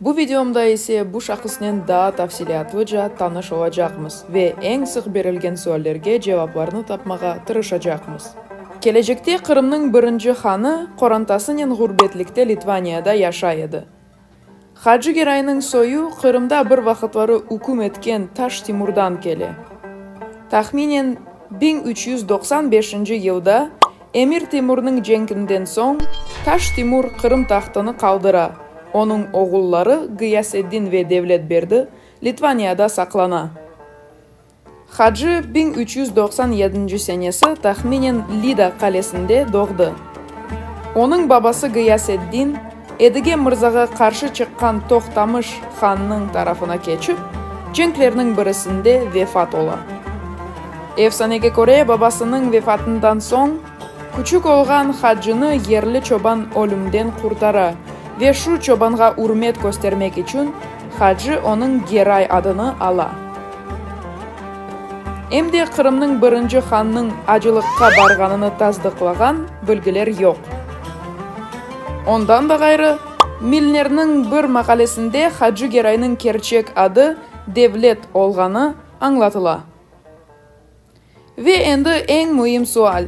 Bu videomda ise bu şahısnen daa tafsilâtlıca tanış olacaqmız ve eñ sıq berilgen suallerge cevaplarnı tapmağa tırışacaqmız. Kelecekte Qırımnıñ birinci hanı qorantasınen ğurbetlikte Litvaniyada yaşay edi. Hacı Geraynıñ soyu Qırımda bir vaqıtları üküm etken Taş Timurdan kele. Tahminen biñ üç yüz doqsan beşinci yılda Emir Temurnıñ cenkinden soñ, Taş Timur Qırım tahtını qaldıra, onıñ oğulları Ğıyaseddin ve Devletberdi Litvaniyada saqlana. Hacı biñ üç yüz doqsan yedinci senesi tahminen Lida qalesinde doğdı. Onıñ babası Ğıyaseddin, Edige mırzağa qarşı çıqqan Toqtamış hannıñ tarafına keçip, cenklerniñ birisinde vefat ola. Efsanege köre, babasınıñ vefatından soñ, küçük olğan Hacını yerli çoban ölümden qurtara ve şu çobanğa ürmet köstermek içün Hacı onıñ Geray adını ala. Em de Qırımnıñ birinci hannıñ acılıqqa barğanını tasdıqlağan bilgiler yoq. Ondan da ğayrı, Milnerniñ bir maqalesinde Hacı Geraynıñ kerçek adı Devlet olğanı añlatıla. Ve endi eñ müim sual,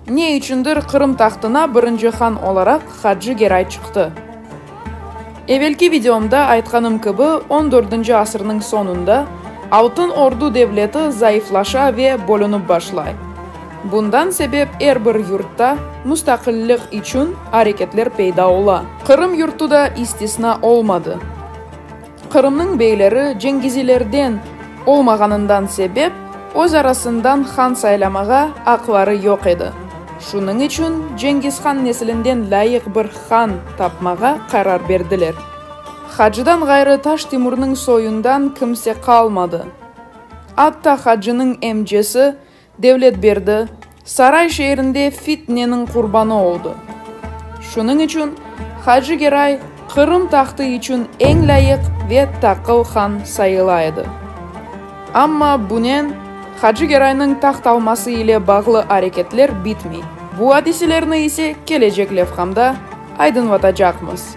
ne içündir Qırım tahtına birinci han olaraq Hacı Geray çıqtı? Evelki videomda aytqanım kibi, on dördünci asırnıñ soñunda Altın Ordu devleti zayıflaşa ve bölünip başlay. Bundan sebep er bir yurtta mustaqillik içün areketler peyda ola. Qırım yurtu da istisna olmadı. Qırımnıñ beyleri cengizilerden olmağanından sebep öz arasından han saylamağa aqları yoq edi. Şunıñ içün Cengizhan nesilinden lâyıq bir han tapmağa qarar berdiler. Hacıdan ğayrı Taş Timurnıñ soyundan kimse qalmadı. Atta hacınıñ emcesi Devletberdi, Saray şeerinde fitneniñ qurbanı oldı. Şunıñ içün Hacı Geray Qırım tahtı içün eñ lâyıq ve taqıl han sayıla edi. Amma bunen Hacı Geraynıñ taht alması ile bağlı areketler bitmey. Bu adiselerni ise kelecek levhamda aydınlatacaqmız.